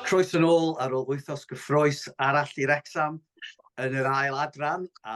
Croeso yn ôl ar ôl wythnos gyffrous arall i Wrecsam yn yr ail adran a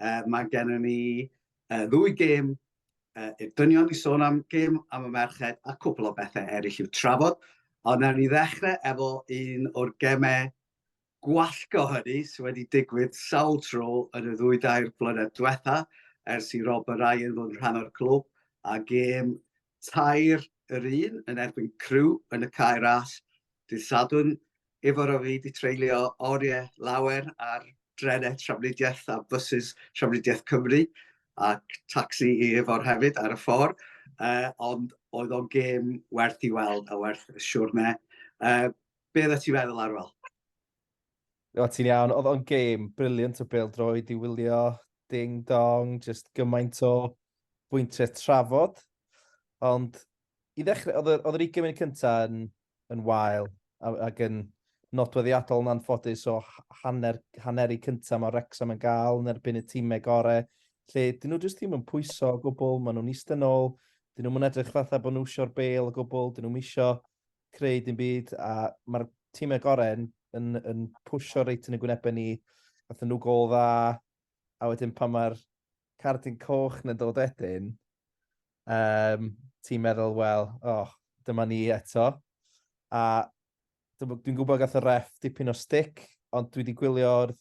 uh, mae gennym ni uh, ddwy gêm uh, i'r dynion i sôn am gêm am y merched a cwpl o bethau eraill i'w trafod. Ond nawr ni ddechrau efo un o'r gemau gwallgo hynny sydd wedi digwydd sawl tro yn y ddwy dair blynedd diwetha ers i Rob Ryan fod yn rhan o'r clwb a gêm Tair yr un yn erbyn Crewe yn y Cae Ras dydd Sadwrn, Ifor a fi 'di treulio oriau lawer ar drenau trafnidiaeth a bysys Trafnidiaeth Cymru, ac tacsi i Ifor hefyd ar y ffordd, uh, ond oedd o'n gêm werth i weld a werth y siwrne. Uh, be oeddet ti'n meddwl, Arwel? O, ti'n iawn. Oedd o'n gêm brilliant o bêl-droed i wylio. Ding dong, just gymaint o bwyntiau trafod. Ond i ddechrau, oedd oedd yr 20 munud cynta yn, yn wael a- ac yn nodweddiadol yn anffodus o hanner, hanner i cynta mae Rexham yn gael yn erbyn y tîmau gore, lle dyn nhw jyst ddim yn pwyso o gwbl, maen nhw'n eistedd nôl, dyn nhw'n edrych fatha bod nhw eisiau'r bêl o gwbl, dyn nhw'n eisiau creu dim byd a mae'r tîmau gorau yn, yn, yn pwysio reit yn y gwynebau ni. Gathen nhw gol dda, a wedyn pan mae'r cardyn coch yn dod wedyn, um, ti'n meddwl, wel, oh, dyma ni eto. A dwi'n gwybod gath y ref dipyn o stick, ond dwi wedi gwylio'r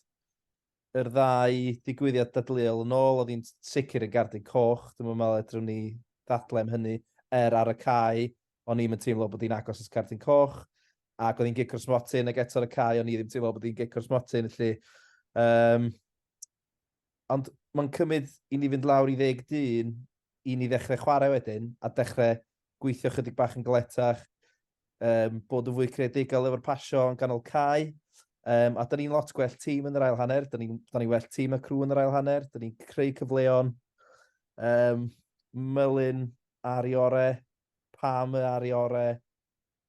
yr ddau ddigwyddiad dadleuol yn ôl, oedd hi'n sicr yn gardig coch, dwi'n meddwl edrym ni ddadlau am hynny, er ar y cae, o'n i'm yn teimlo bod hi'n agos at gardig coch, ac oedd hi'n gic o'r smotyn, ac eto ar y cae, o'n i ddim teimlo bod hi'n gic o'r smotyn, felly. Um, ond mae'n cymryd i ni fynd lawr i ddeg dyn i ni ddechrau chwarae wedyn, a dechrau gweithio chydig bach yn galetach, um, bod yn fwy creadigol efo'r pasio yn ganol cae. Um, a da ni'n lot gwell tîm yn yr ail hanner, da ni'n ni well tîm y crw yn yr ail hanner, da ni'n creu cyfleon. Um, Mylun ar i ore, Pam ar i ore,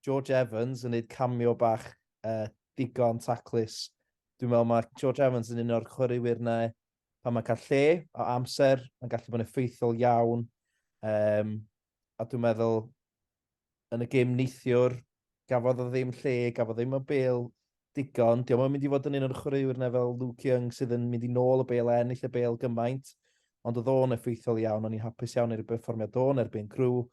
George Evans yn neud camio bach uh, digon taclus. Dwi'n meddwl mae George Evans yn un o'r chwaraewyr na pan mae'n cael lle o amser, mae'n gallu bod yn effeithiol iawn. Um, a dwi'n meddwl yn y gêm neithiwr, gafodd o ddim lle, gafodd ddim o bel digon. Diolch yn mynd i fod yn un o'r chwaraewyr na fel Luke Young sydd yn mynd i nôl y bel a ennill y bel gymaint. Ond oedd o'n effeithiol iawn, o'n i'n hapus iawn i'r berfformiad o'n erbyn grw.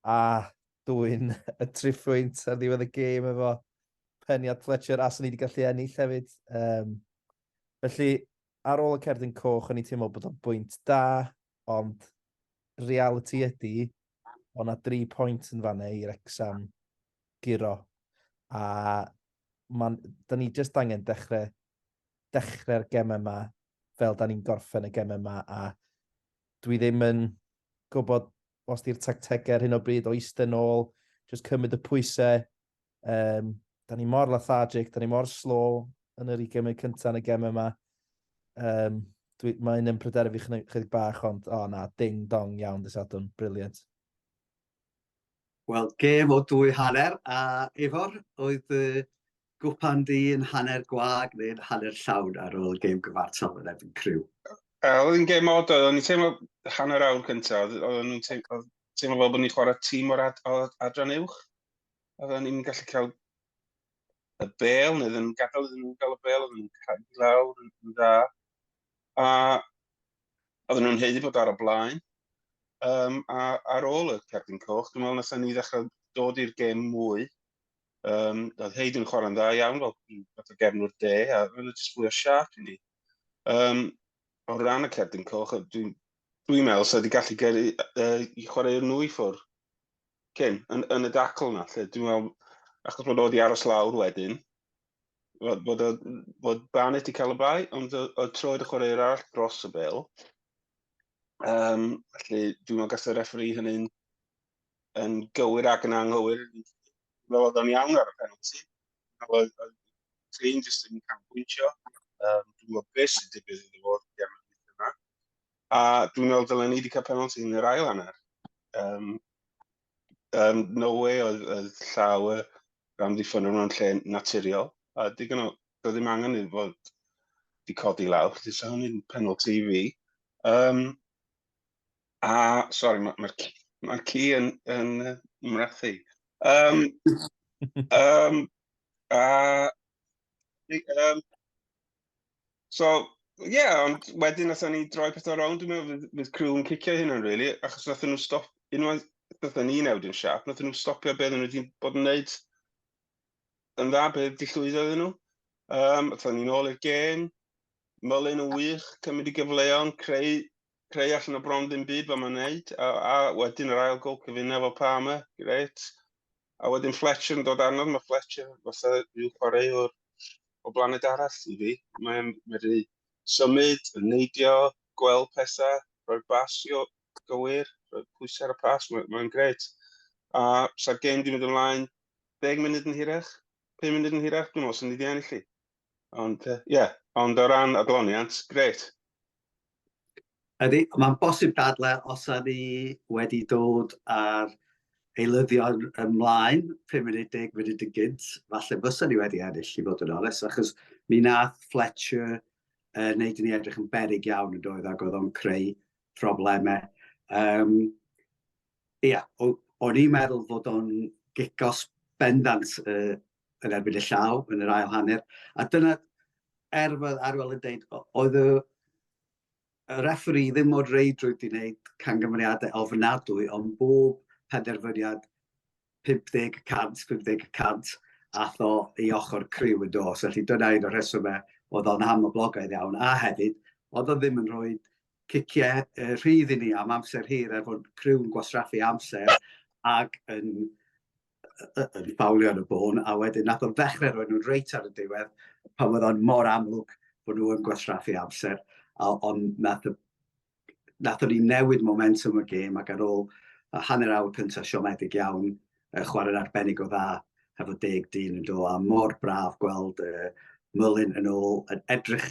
A dwi'n y triffwynt ar ddiwedd y gêm efo peniad Fletcher a sy'n ni wedi gallu ennill hefyd. Um, felly, ar ôl y cerdyn coch, o'n i'n teimlo bod o'n bwynt da. ond realiti ydi, o' 'na dri pwynt yn fan 'na i Wrecsam guro, a ma'n... 'Da ni jyst angen dechre dechre'r geme 'ma fel 'dan ni'n gorffen y geme 'ma a dwi ddim yn gwbod os 'di'r tactege ar hyn o bryd o iste nôl jyst cymryd y pwyse Um, da ni mor lethargic, da ni mor slow yn yr 20 munud cyntaf yn y gem yma. Um, dwi, mae un yn pryder fi chydig bach, ond o oh, na, ding dong iawn dys adwn, briliant. Wel, gem o dwy hanner, a efo'r oedd uh, gwpan di yn hanner gwag neu'n hanner llawn ar ôl gem gyfartal yn efo'n criw? Oedd yn gem od, oedd ni'n teimlo hanner awr cyntaf, oedd nhw'n teimlo fel bod ni'n chwarae tîm o'r ad, adran uwch. Oedden ni'n gallu cael y bel, neu ddim yn gadael iddyn nhw'n cael y bel, oedden nhw'n cael i lawr yn dda. A oedden nhw'n heiddi bod ar y blaen. Um, a ar ôl y cerdyn coch, dwi'n meddwl nes ni ddechrau dod i'r gêm mwy. Um, oedd Heid yn chwarae'n dda iawn fel fath o gefnwr de, a oedd yn jyst fwy o siarp i ni. Um, o ran y cerdyn coch, dwi'n Dwi'n meddwl sef wedi gallu gyrru uh, i chwarae nhw i ffwr. Cyn, yn, yn y dacl yna. Lle, dwi'n meddwl, achos bod o wedi aros lawr wedyn, bod, bod, bod Barnett wedi cael y bai, ond o troed y chwarae arall dros y bel. Um, felly, dwi'n meddwl gallai referi hynny'n yn gywir ac yn anghywir. Fel oedd o'n iawn ar y penalty. Nawr, Trin jyst yn canbwyntio, um, dwi'n gwybod beth sy'n digwydd iddo fo gem yma. A dwi'n meddwl dylen ni wedi cael penalty yn yr ail hanner. Um, um, no way oedd, oedd llaw y rhan ddiffyn o'n lle naturiol. A digon o, doedd ddim angen i fod di codi lawr, felly sa hynny'n penalty i fi. Um, A, sori, mae'r ma, ci, ma ci yn, yn mrathu. Um, um, a, um, so, ie, yeah, ond wedyn nath ni droi pethau rownd, dwi'n meddwl, fydd, fydd crew yn cicio hynna'n, really, achos nath nhw stop, unwaith nath ni newid yn siap, nath nhw stopio beth nhw wedi bod yn neud yn dda, beth di llwyddo iddyn nhw. Um, Atho ni'n ôl i'r gen, mylyn yn wych, cymryd i gyfleon, creu creu allan o bron ddim byd fel mae'n neud, a, a wedyn yr ail gol cyfuna fel Palmer, gret. A wedyn Fletcher yn dod arnodd, mae Fletcher fatha rhyw chwaraewr o blaned arall i fi. Mae'n medru symud, yn neidio, gweld pethau, rhoi basio gywir, rhoi pwysau ar y pas, mae'n mae gret. A sa'r gêm di mynd ymlaen 10 munud yn hirach, 5 munud yn hirach, dwi'n meddwl sy'n ni di ennill i. Ond, ie, yeah. ond o ran adloniant, gret. Ydy, mae'n bosib dadle os a ni wedi dod ar eilyddion ymlaen, 5 munud, 10 munud yn gynt, falle fysa ni wedi ennill i fod yn oles, achos mi nath Fletcher uh, wneud i ni edrych yn berig iawn yn doedd ac oedd o'n creu problemau. Um, ia, o'n i'n meddwl fod o'n gigos bendant y, yn erbyn y llaw yn yr ail hanner, a dyna er fy arwel yn dweud, oedd y, y referi ddim o'r reidrwydd i wneud cangyfriadau ofnadwy, ond bob penderfyniad 50 cant, 50 cant, ath o i ochr criw yn dos. Felly dyna un o'r rhesymau oedd o'n ham o blogaidd iawn, a hefyd, oedd o ddim yn rhoi ciciau uh, rhydd i ni am amser hir, er bod criw'n gwastraffu amser ac yn yn ffawlio yn y bôn, a wedyn nath o ddechrau rhoi nhw'n reit ar y diwedd, pan oedd o'n mor amlwg bod nhw yn gwastraffu amser, a ond nath, nath o'n i newid momentum y gêm ac ar ôl a hanner awr cyntaf siomedig iawn, uh, chwarae'n arbennig o dda hefo deg dyn yn do, a mor braf gweld uh, Mullin yn ôl yn edrych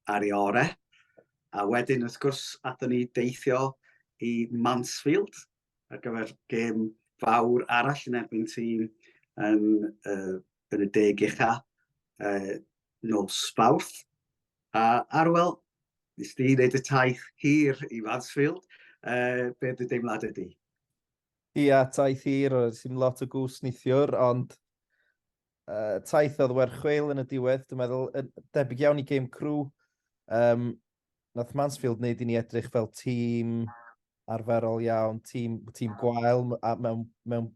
ar ei ore. A wedyn, wrth gwrs, athyn ni deithio i Mansfield, ar gyfer gêm fawr arall yn erbyn tîm yn, uh, yn y deg ucha uh, nos Fawrth. A Arwel, nes di wneud y taith hir i Mansfield, uh, be dy deimlad ydy? Ia, taith hir, oedd sy'n lot o gwrs nithiwr, ond uh, taith oedd werchweil yn y diwedd, dwi'n meddwl, debyg iawn i game crew. Um, nath Mansfield wneud i ni edrych fel tîm arferol iawn, tîm, tîm gwael a mewn, mewn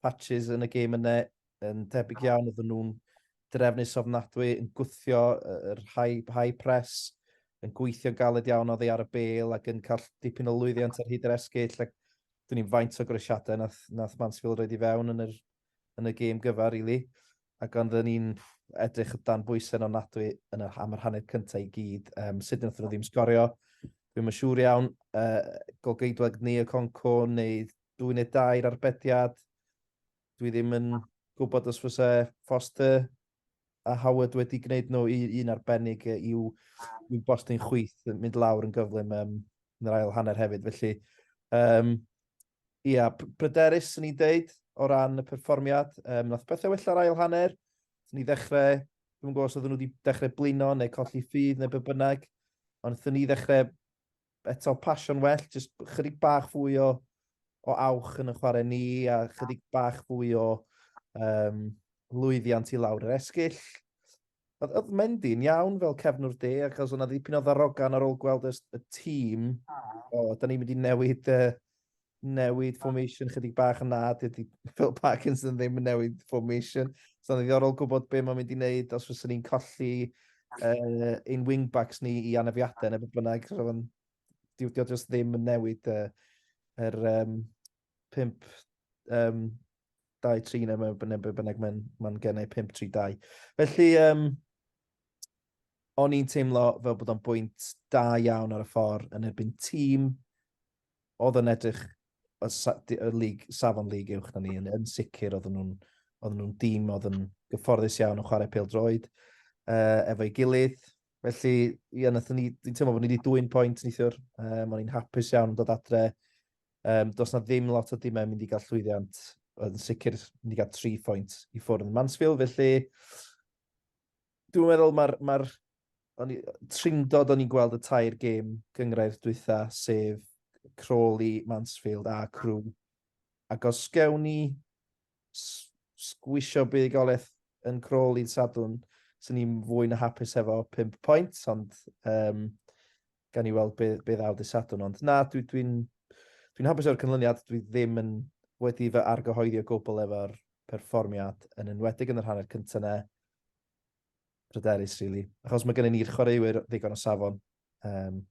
patches yn y gêm yna yn tebyg iawn, oedden nhw'n drefnus ofnadwy, yn gwthio yr high, high press, yn gweithio galed iawn oddi ar y bel ac yn cael dipyn o lwyddiant ar hyd yr esgyll. Ac dyn ni'n faint o gresiadau nath, nath Mansfield roed i fewn yn yr yn y gêm gyfa rili ac ond o'n i'n edrych dan bwyse yn ofnadwy yn y am yr hanner cynta i gyd um, sut nathon nhw ddim sgorio dwi'n yn siŵr iawn uh, golgeidwag ni y Conco neu dwy neu dair arbediad dwi ddim yn gwybod os fysa Foster a Howard wedi gwneud nhw i, un arbennig i'w, i'w bost yn chwyth yn mynd lawr yn gyflym um, yn yr ail hanner hefyd. Felly, um, Ia, pryderus swn i'n deud o ran y perfformiad. Um, nath pethau wella'r ail hanner. Thyn ni ddechrau, dwi'n gwybod os oedden nhw wedi dechrau blino neu colli ffydd neu be bynnag. Ond thyn ni ddechrau eto pasio'n well, jyst chydig bach fwy o, o awch yn y chwarae ni a chydig bach fwy o um, lwyddiant i lawr yr esgyll. Oedd, oedd Mendy yn iawn fel cefnwr de, ac oedd yna ddipyn o ddarogan ar ôl gweld y, y tîm. O, da ni'n mynd i newid, uh, newid formation chydig bach yna, dydy Phil Parkinson ddim yn newid formation. So, oedd ddiddorol gwybod beth mae'n mynd i wneud os fyswn ni'n colli uh, ein wingbacks ni i anafiadau neu beth bynnag. So, Dio ddim yn newid uh, yr, um, 5, um, 2, 3 neu mae bynnag, be bynnag mae'n ma gennau 5, 3, 2. Felly, um, o'n i'n teimlo fel bod o'n bwynt da iawn ar y ffordd yn erbyn tîm oedd yn edrych y, sa, y lig, safon lig uwch na ni, yn, yn sicr oedd nhw'n oedd nhw'n dîm oedd yn gyfforddus iawn o chwarae pêl droed uh, efo'i gilydd. Felly, ia, nath ni, dwi'n teimlo bod ni wedi dwy'n pwynt nithiwr. Um, o'n i'n hapus iawn yn dod adre Um, does na ddim lot o dimau mynd i gael llwyddiant, oedd yn sicr mynd i gael tri phwynt i ffwrdd yn Mansfield, felly dwi'n meddwl mae'r ma tringdod o'n i'n gweld y tair gêm gyngrair dwytha, sef Crawley, Mansfield a Crew. Ac os gewn ni sgwisio buddugoliaeth yn Crawley yn sadwn, sy'n ni'n fwy na hapus hefo 5 pwynt, ond um, gan i weld be, be ddaw dy Sadwn. Ond na, dwi'n dwi, dwi hapus o'r cynlyniad, dwi ddim yn wedi fy argyhoeddi o gwbl efo'r perfformiad yn enwedig yn yr hanner cyntaf ne. Pryderus, really. Achos mae gennym ni'r chwaraewyr ddigon o safon. Um,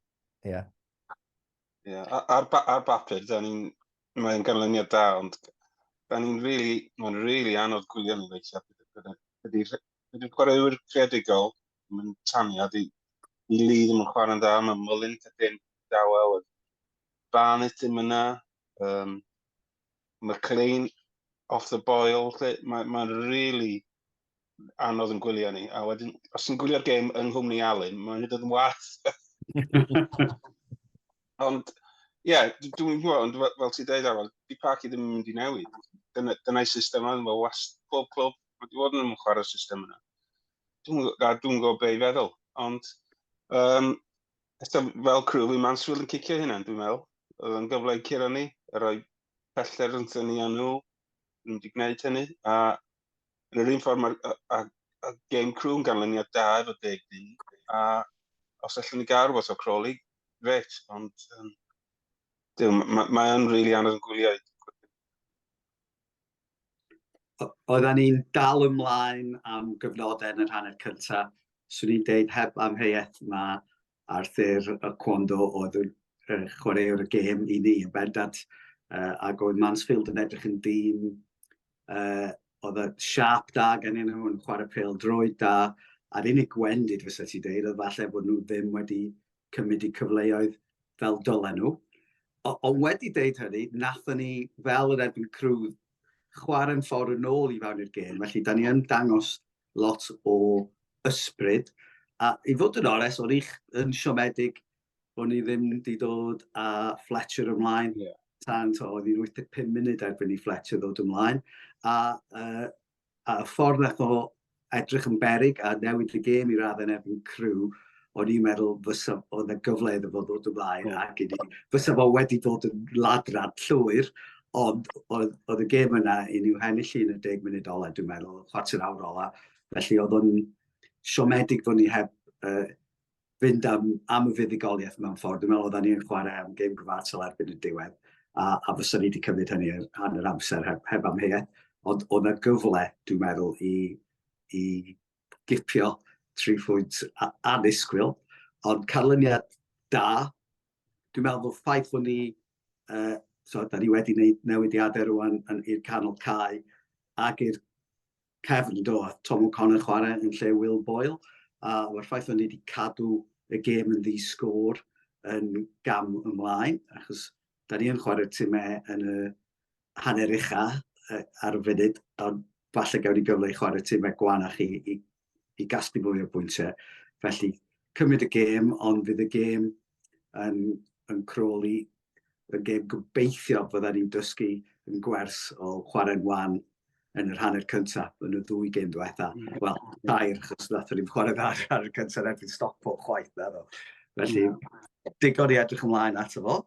yeah. Yeah. Ar, ba ar bapur, da ni'n... Mae'n ganlyniad da, ond da ni'n really... Mae'n really anodd gwylio ni weithiau. Ydy'r chwaraewyr creadigol mae'n taniad i, i Lee ddim yn chwarae'n dda, mae Mullin cadw'n dawel, Barnett ddim yna, um, McLean off the boil, mae'n ma really anodd yn gwylio ni. A wedyn, os ti'n gwylio'r gêm yng nghwmni Alun, mae'n hyd yn wath. ond, ie, yeah, dwi'n gwybod, ond fel ti'n dweud awel, di Parky ddim yn mynd i newid. Dyna'i system yna, mae wast pob clwb, mae wedi bod yn chwarae'r system yna. dwi'n dwi gwybod be i feddwl, ond um, fel crw fi Mansfield yn cicio hynna, dwi'n meddwl. Oedd yn gyfle i curo ni, a rhoi pellter yn thynu â nhw, nhw wedi gwneud hynny, a yn yr un ffordd mae'r game crew yn ganlyniad da efo deg di, a os allwn ni gael rhywbeth o Crawley, gret, ond um, mae'n mae, mae rili really anodd yn gwylio oedden ni'n dal ymlaen am gyfnodau yn yr hanner cynta. Swn i'n deud heb amheuaeth mae Arthur y Cwondo oedd y uh, chwaraewr y gêm i ni yn bendant. Uh, ac oedd Mansfield yn edrych yn dîm uh, oedd y siap da gen i'n nhw'n chwarae pel drwy da. A'r unig gwendid fysa ti deud oedd falle bod nhw ddim wedi cymryd y cyfleoedd fel dylen nhw. O, ond wedi deud hynny, nathon ni fel yr erbyn crwdd chwarae'n ffordd yn ôl i fewn i'r gêm, felly da ni yn dangos lot o ysbryd. A i fod yn ores, o'n i'ch yn siomedig o'n i ddim wedi dod a Fletcher ymlaen. Yeah. Tan, to, oedd hi'n 85 munud erbyn i Fletcher ddod ymlaen. A uh, a y ffordd nath o edrych yn beryg a newid y gêm i raddau yn erbyn Crew, o'n i'n meddwl fysa oedd y gyfle iddo fo ddod ymlaen mm. ac iddi, fysa fo wedi dod yn ladrad llwyr, ond oedd, oedd y gêm yna i ni'w hennill yn y deg munud ola, dwi'n meddwl, chwarter awr ola, felly oedd o'n siomedig fod ni heb uh, fynd am, am y fuddugoliaeth mewn ffordd. Dwi'n meddwl oedden ni'n chwarae am gêm gyfartal erbyn y diwedd, a, a fysa ni wedi cymryd hynny ar rhan yr amser heb, heb amheuaeth. Ond oedd yna gyfle, dwi'n meddwl, i, i gipio tri phwynt anusgwyl, ond canlyniad da. Dwi'n meddwl bod ffaith bod ni, uh, so, da ni wedi gwneud newidiadau rwan i'r canol cae ac i'r cefn, do, a Tom O'Connor chwarae yn lle Will Boyle, a mae'r ffaith o'n ni wedi cadw y gêm yn ddi-sgôr yn gam ymlaen, achos da ni yn chwarae timau yn y hanner ucha ar y funud, ond falle gawn ni gyfle i chwarae timau gwanach i, i, i gasglu mwy o bwyntiau. Felly, cymryd y gêm, ond fydd y gêm yn, yn croli Rwy'n geb gobeithio fyddan ni'n dysgu yn gwers o chwarae'n wan yn yr hanner cyntaf yn y ddwy gêm diwetha. Mm. Wel, dair, chos nathon ni'n chwarae dda ar y cyntaf yn erbyn Stockport chwaith, na ddo. Felly, mm. digon i edrych ymlaen ato fo.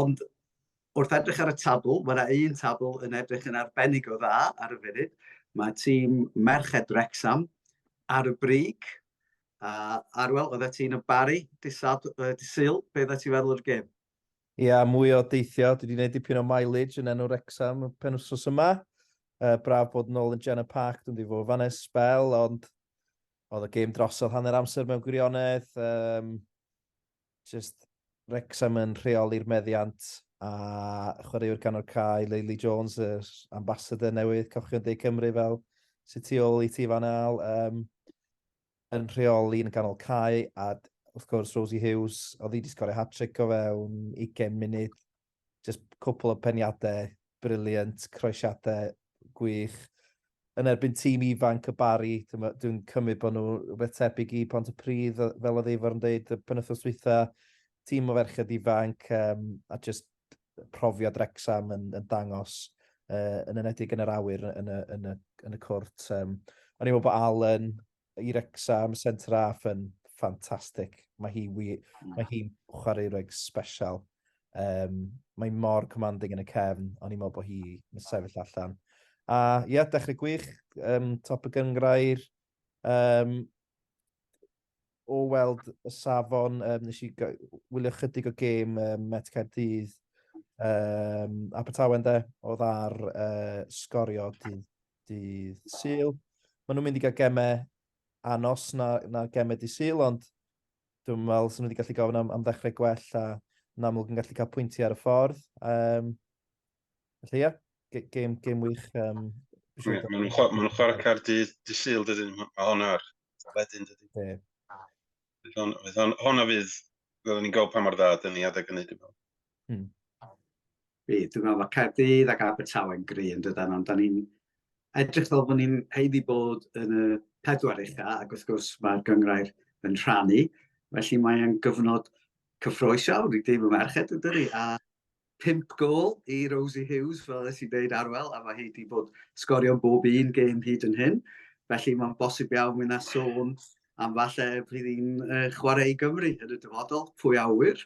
Ond wrth edrych ar y tabl, mae yna un tabl yn edrych yn arbennig o dda ar y funud. Mae tîm Merched Wrexham ar y brig, A Arwel, oeddet ti'n y Bari, disad, uh, disyl, be oeddet ti'n feddwl o'r gêm? Ia, yeah, mwy o deithio. Dwi wedi gwneud dipyn o mileage yn enw Rexham y pen wrthos yma. Uh, braf bod yn ôl yn Jenna Park, dwi'n dweud fod fan es spel, ond oedd y gêm drosodd hanner amser mewn gwirionedd. Um, Jyst Wrexham yn rheoli'r meddiant a chwaraewr canol cae Leili Jones, yr ambassador newydd Cochion De Cymru fel sy'n tu ôl i ti fan al, um, yn rheoli yn canol cae a wrth gwrs Rosie Hughes, oedd hi wedi sgorio hat-trick o fewn 20 munud jyst cwpl o peniadau briliant, croesiadau gwych. Yn erbyn tîm ifanc y Bari, dwi'n cymryd bod nhw rhywbeth tebyg i Pont y Pridd, fel oedd Eifar yn dweud, y penwthnos dwytha, tîm o ferched ifanc, um, a jyst profiad Rexham yn, yn dangos uh, yn enedig yn yr awyr yn y, yn y, yn y cwrt. Um, o'n i'n meddwl bod Allen i Wrecsam, centre half yn ffantastig. Mae hi wir... Hmm. ...mae hi'n chwaraewraig sbesial. Um, mae mor commanding yn y cefn, o'n i'n meddwl bod hi yn sefyll allan. A ie, yeah, dechrau gwych, um, top y gyngrair. Um, o weld y safon, um, nes i wylio chydig o gêm um, Met Caerdydd, um, Abertawe, de, oedd ar uh, sgorio dydd Dydd Sul. Maen nhw'n mynd i gael gemau anos na, na gemau di Sul, ond dwi'n meddwl sy'n wedi gallu gofyn am, am ddechrau gwell a yn amlwg yn gallu cael pwyntiau ar y ffordd. Um, felly ie, yeah, game, game wych. Um, yeah, Maen nhw'n chwarae cair dydd di Sul, dydyn, mae hwn ar ledyn, dydyn. Yeah. Hona fydd, fel ni'n gweld pa mor dda, dyn ni adeg yn neud i fel. Mm. Bydd, dwi'n meddwl, mae Caerdydd ac Abertawe'n gry yn dydan, ond da ni'n edrych fel bod ni'n heiddi bod yn y pedwar ucha, ac wrth gwrs mae'r gyngrair yn rhannu, felly mae'n gyfnod cyffroes iawn i dîm y merched yn dydi, a pimp gol i Rosie Hughes, fel ydych chi'n dweud arwel, a mae hi wedi bod sgorio bob un gêm hyd yn hyn, felly mae'n bosib iawn mynd a sôn am falle bydd hi'n uh, chwarae i Gymru yn y dyfodol, pwy awyr,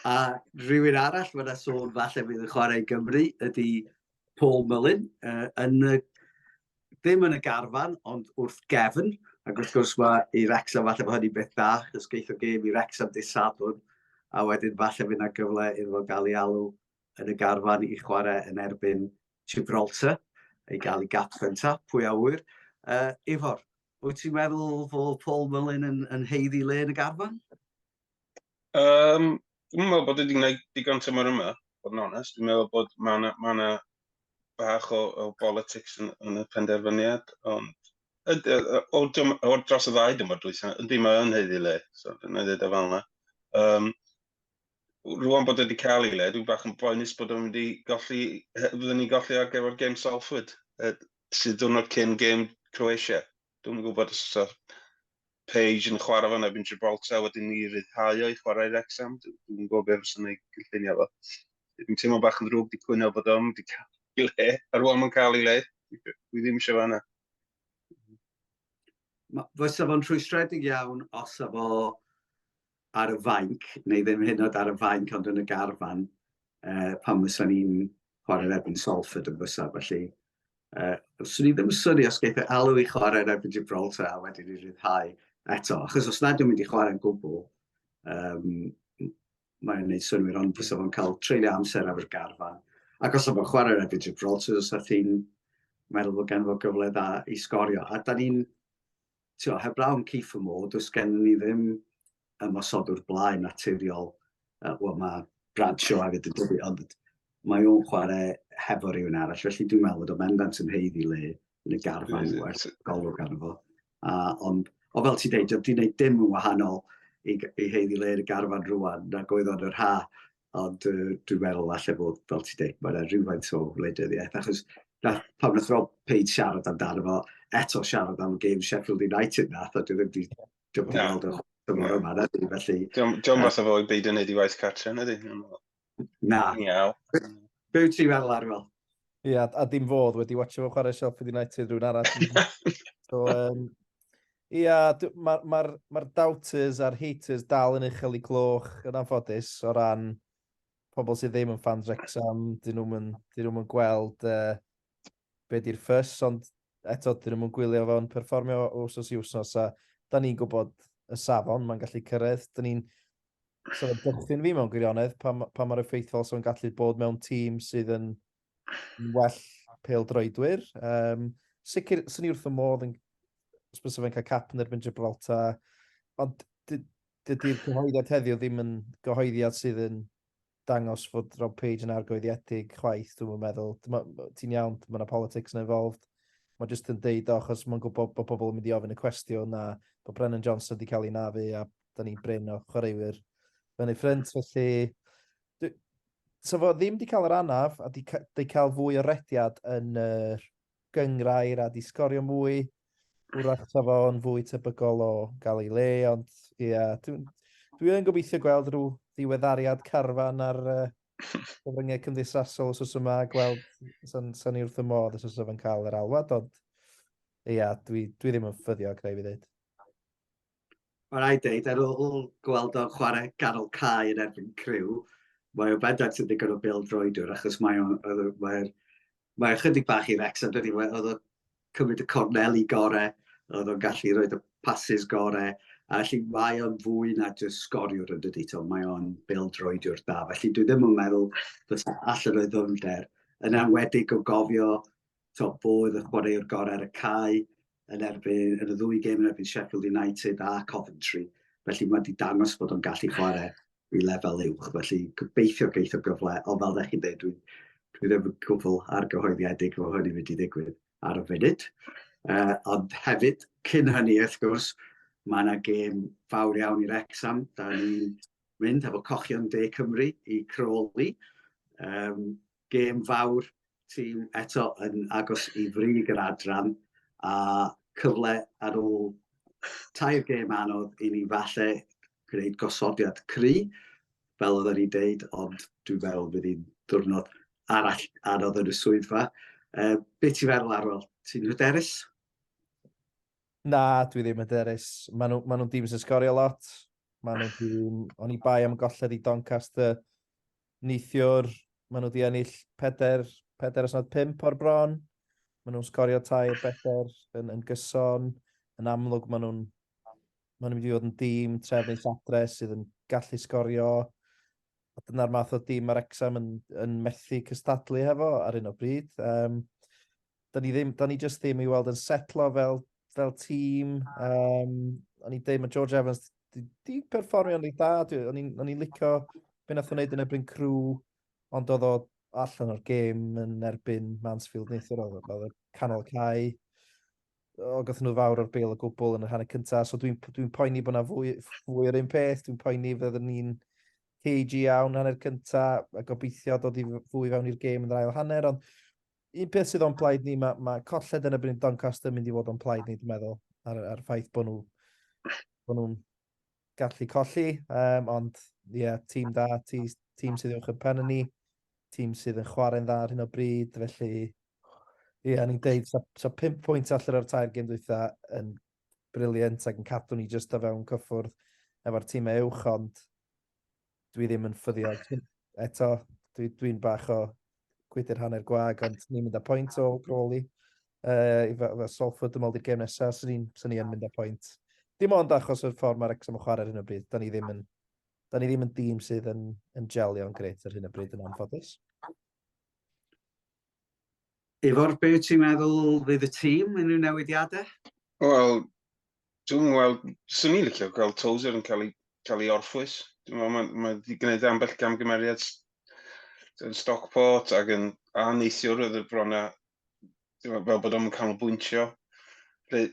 A rhywun arall mae'n yna sôn falle fydd yn chwarae i Gymru ydy Paul Mullin, uh, yn y, ddim yn y garfan, ond wrth gefn. Ac wrth gwrs mae i Rexham falle bod hynny'n beth da, chos geith o gêm i Rexham dydd Sadwrn, a wedyn falle fydd yna gyfle iddo fo gael ei alw yn y garfan i chwarae yn erbyn Gibraltar, ei gael ei gapten ta, pwy a wyr. Uh, Ifor, wyt ti'n meddwl fod Paul Mullin yn, yn heiddi le yn y garfan? Um, dwi'n meddwl bod wedi gwneud digon tymor yma, bod yn onest. Dwi'n meddwl bod mae yna ma na bach o, o politics yn, yn y penderfyniad, ond o, o dros y ddau dymor dwysa, ydy mae yn heiddi le, so dyna ddweud o fel yna. Um, rwan bod wedi cael ei le, dwi'n bach yn boenus bod o'n wedi golli, fyddwn ni'n golli ar gyfer gêm Salford, sydd dwrnod cyn gêm Croatia. Dwi'm yn gwybod os oes Page yn chwarae fan erbyn Gibraltar wedyn ni ryddhau o'i chwarae Wrexham. Dwi'n yn gwybod beth fysa ei gynllunio fo. Dwi'n teimlo bach yn ddrwg di cwyno bod o'n wedi cael ei le. A rwan mae'n cael ei le. Dwi ddim eisiau fanna. Fysa fo'n rhwystredig iawn os efo ar y fainc, neu ddim hyn oed ar y fainc ond yn y garfan uh, pan fysa ni'n chwarae erbyn Salford yn fysa, felly uh, swn i ddim yn syni os geithio alw i chwarae erbyn Gibraltar a wedyn i ryddhau eto, achos os nad yw'n mynd i chwarae'n gwbl, um, mae'n gwneud synwyr, ond fysa fo'n cael treulio amser ar y garfan. Ac os yma chwarae erbyn Gibraltar, os ydych chi'n meddwl bod gen fo gyfle dda i sgorio. A da ni'n Tibod, heblaw am Keith a Mo, does gennym ni ddim ymosodwr blaen naturiol. Uh, Wel, mae Bradshaw hefyd yn dydi, ond mae o'n chwarae hefo rhywun arall, felly dwi'n meddwl bod o'n bendant yn heidd i le yn y garfan mm. werth golwg arno fo. A, ond, o fel ti'n deud, dwi'n gwneud dim yn wahanol i, i heidd i le yn y garfan rwan, nag oedd o'n yr ha. Ond uh, dwi'n meddwl falle bod, fel ti'n dweud, mae'n rhywfaint o wleidyddiaeth, achos na, pan wnaeth Rob Page siarad amdano fo, eto siarad am game Sheffield United na, a dwi ddim wedi dymor no. weld o'r dymor yma, na dwi, felly... Diolch mas o fo i beidio wneud i waith cartre, na di? Na. Miaw. Be wyt ti'n meddwl ar fel? Ie, a, a dim fodd wedi watcho fo chwarae Sheffield United rhywun arall. so, um, ie, mae'r ma, ma, doubters a'r haters dal yn uchel i gloch yn anffodus o ran pobl sydd ddim yn fans Rexham, dyn nhw'n yn, dyn nhw'n gweld uh, be di'r ffys, ond eto dyn nhw'n gwylio fo'n perfformio wrsos i wrsos, a da ni'n gwybod y safon mae'n gallu cyrraedd. Da ni'n So fe dychryn fi mewn gwirionedd pa, pa mae'r effeithiol sy'n gallu bod mewn tîm sydd yn well pel droedwyr. Um, sicr, sy'n ni wrth y modd yn sbys fe'n cael cap yn erbyn Gibraltar, ond dydy'r cyhoeddiad heddiw ddim yn gyhoeddiad sydd yn dangos fod Rob Page yn argoeddiedig chwaith, dwi'n meddwl. Ti'n iawn, mae yna politics yn involved. Mae jyst yn deud o, achos mae'n gwybod bod pobl yn mynd i ofyn y cwestiwn a bod Brennan Johnson wedi cael ei nafu a da ni brin o chwaraewyr yn ei ffrind, felly... So fo ddim wedi cael yr anaf, a wedi cael fwy o rediad yn yr gyngrair a di sgorio mwy. Wrach ta fo'n fwy tebygol o gael ei le, ond ie, yeah, dwi'n dwi yn gobeithio gweld rhyw ddiweddariad carfan ar uh, gyfryngau cymdeithasol os oes yma, gweld sy'n sa ni wrth y modd os oes yma'n cael yr alwad, ond ie, yeah, dwi, dwi ddim yn ffyddiog, rhaid fi ddweud. Mae rhaid dweud, ar ôl gweld o'n chwarae ganol cae yn erbyn criw, mae o'n bendant yn ddigon o bil droedwr, achos mae o'n... Mae, mae ychydig bach i Rex, ond dydy, oedd o'n cymryd y corneli gorau, oedd o'n gallu rhoi y pasys gorau, a felly mae o'n fwy na jyst sgoriwr yn dydy, to, mae o'n bil droedwr da. Felly dwi ddim yn meddwl bod allan o'i ddyfnder, yn anwedig o gofio to, fo oedd y chwaraewr gorau ar y cae yn erbyn yn y ddwy gêm yn erbyn Sheffield United a Coventry. Felly mae wedi dangos bod o'n gallu chwarae i lefel uwch. Felly gobeithio geith o gyfle, ond fel ddech chi'n dweud, dwi, dwi ddim yn gwbl argyhoeddiedig fo hynny wedi digwydd ar y funud. Uh, ond hefyd, cyn hynny, wrth gwrs, mae yna gêm fawr iawn i'r exam. Da ni'n mynd efo cochion de Cymru i Crawley. Um, gêm fawr, tîm eto yn agos i frig yr adran a cyfle ar ôl tair gêm anodd i ni falle gwneud gosodiad cry, fel oedden ni'n deud, ond dwi'n meddwl bydd hi'n diwrnod arall anodd yn y swyddfa. Uh, be ti'n feddwl Arwel? Ti'n hyderus? Na, dwi ddim hyderus. Maen nhw'n ma nhw dîm sy'n sgorio lot. Maen nhw'n dîm... O'n i bai am golled i Doncaster Neithiwr, maen nhw wedi ennill peder, peder os nad pimp o'r bron. Maen nhw'n sgorio tair beder yn, yn gyson. Yn amlwg, maen nhw'n ma nhw mynd i fod yn dîm tref neu satre sydd yn gallu sgorio. A dyna'r math o dîm mae'r exam yn, yn methu cystadlu hefo ar un o bryd. Um, da ni ddim, da ni just ddim i weld yn setlo fel, fel tîm. Um, o'n i'n deud, mae George Evans di, di perfformio yn ei da. O'n i'n licio beth nath o'n neud yn erbyn crw, ond oedd o allan o'r gêm yn erbyn Mansfield neithio'r oedd oedd y canol cae. O, gath nhw fawr o'r bel o gwbl yn y hanner cyntaf, so dwi'n dwi, poeni bod yna fwy, fwy o'r un peth, dwi'n poeni fydda ni'n cage iawn hanner cyntaf, a gobeithio dod i fwy fewn i'r gêm yn yr ail hanner, ond Un peth sydd o'n plaid ni, mae ma colled yn ebyn Doncaster yn mynd i fod o'n plaid ni, dwi'n meddwl, ar, ar ffaith bod nhw'n bod nhw'n gallu colli, um, ond ie, yeah, tîm da, tîm sydd i'w chypen yn ni, tîm sydd yn chwarae'n dda ar hyn o bryd, felly ie, yeah, ni'n deud, so, so 5 pwynt allan o'r tair gym dwytha yn briliant ac yn cadw ni jyst o fewn cyffwrdd efo'r tîm e uwch, ond dwi ddim yn ffyddio eto. Dwi, dwi'n bach o gwydr hanner gwag, ond ni'n mynd â pwynt o Crawley. Uh, I fe Salford ymweld i'r gêm nesaf, sy'n ni'n sy yn mynd â pwynt. Dim ond achos o'r ffordd mae'r exam yn chwarae ar hyn o bryd. Da ni ddim yn, da ni ddim yn dîm sydd yn, yn gelio'n greit ar hyn o bryd yn anffodus. Ifor, be ti'n meddwl fydd y tîm yn unrhyw newidiadau? Wel, Dwi'n gweld, swn i'n licio gweld Tozer yn cael ei, cael ei orffwys. Dwi'n meddwl, mae, mae wedi gwneud ambell gamgymeriad yn Stockport ac yn a neithiwr oedd y brona fel bod o'n canolbwyntio. Lle,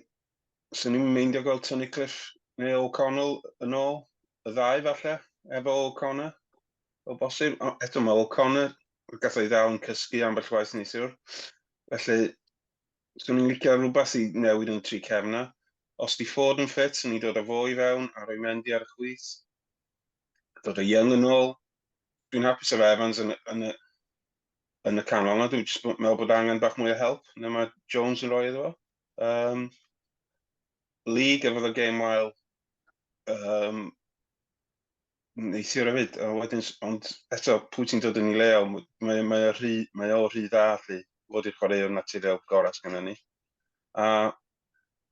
swn i'n meindio gweld Tony Cliff neu O'Connell yn ôl, y ddau falle, efo O'Connor, o bosib. Eto mae O'Connor, gath o'i ddal yn cysgu ambell waith neithiwr. Felly, Swn i'n licio rhywbeth i newid yn y tri cefn 'na. Os 'di Ford yn ffit, swn i'n dod â fo i fewn a rhoi Mendy ar y chwith. Dod â Young yn ôl. Dwi'n hapus efo Evans yn, yn, y, yn y canol 'na. Dwi'n jyst meddwl bod angen bach mwy o help na mae Jones yn rhoi iddo fo. Um, Lee gyfodd o gêm wael um, neithiwr hefyd, a wedyn, ond eto, pwy ti'n dod yn ei leol, mae, mae, o rhy, mae o rhy dda lli, fod i'r chwaraewr naturiol gorau sy'n yna ni. A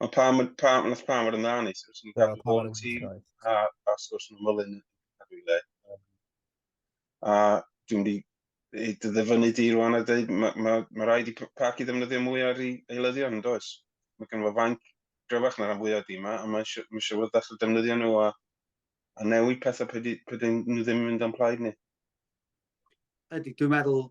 mae pam, pam, nath pam fod yn dda neithiwr, sy'n cadw bod yn tîm, a, a sgwrs yn ymwylyn yn cadw i le. A dwi'n di ei ddyfynu di rwan a dweud, mae ma, ma rhaid i Parc i ddefnyddio mwy ar ei eilyddion, yn does? Mae gen fo fanc gryfach na rhan fwyaf di yma, a mae eisiau fod ddechrau defnyddio nhw a a newid pethau pe di, pe dyn nhw ddim yn mynd o'n plaid ni. Ydy, dwi'n meddwl,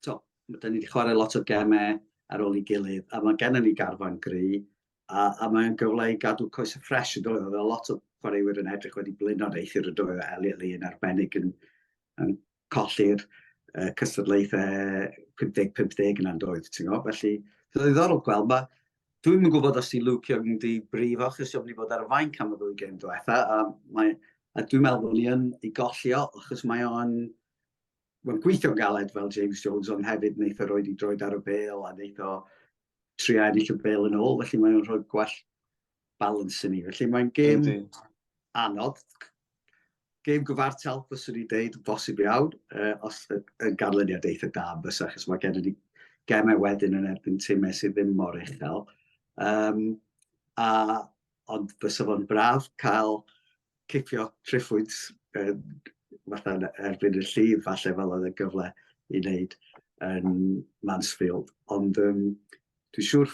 to, da ni wedi chwarae lot o gemau ar ôl i gilydd, a mae gennym ni garfan gry, a, a mae'n gyfle i gadw coes y ffres yn dod. Oedd lot o chwaraewyr yn edrych wedi blino'r eithir y dwy o Elliot Lee yn arbennig yn, yn colli'r yy cystadlaethau 50 50 yna yndoedd ti'n gwybod felly so ddiddorol gweld ma' dwi'm yn gwybod os di Luke Young yn di brifo achos o'n i fod ar y fainc am y ddwy gêm diwetha a mae a dwi'n meddwl bod ni yn ei golli o achos mae o'n mae'n gweithio'n galed fel James Jones ond hefyd wneith o roed i droed ar y bel a wneith o trio ennill y bel yn ôl felly mae'n rhoi gwell balans i ni. Felly mae'n gêm anodd, gêm gyfartal, fyswn i'n deud, bosib iawn, uh, os yn ganlyniad eitha da yn fysa, chos mae gen i gemau wedyn yn erbyn tîmau sydd ddim mor uchel. Um, a, ond fysa fo'n braf cael cipio triffwyd uh, fatha erbyn y llif, falle fel oedd y gyfle i wneud yn Mansfield. Ond um, dwi'n siŵr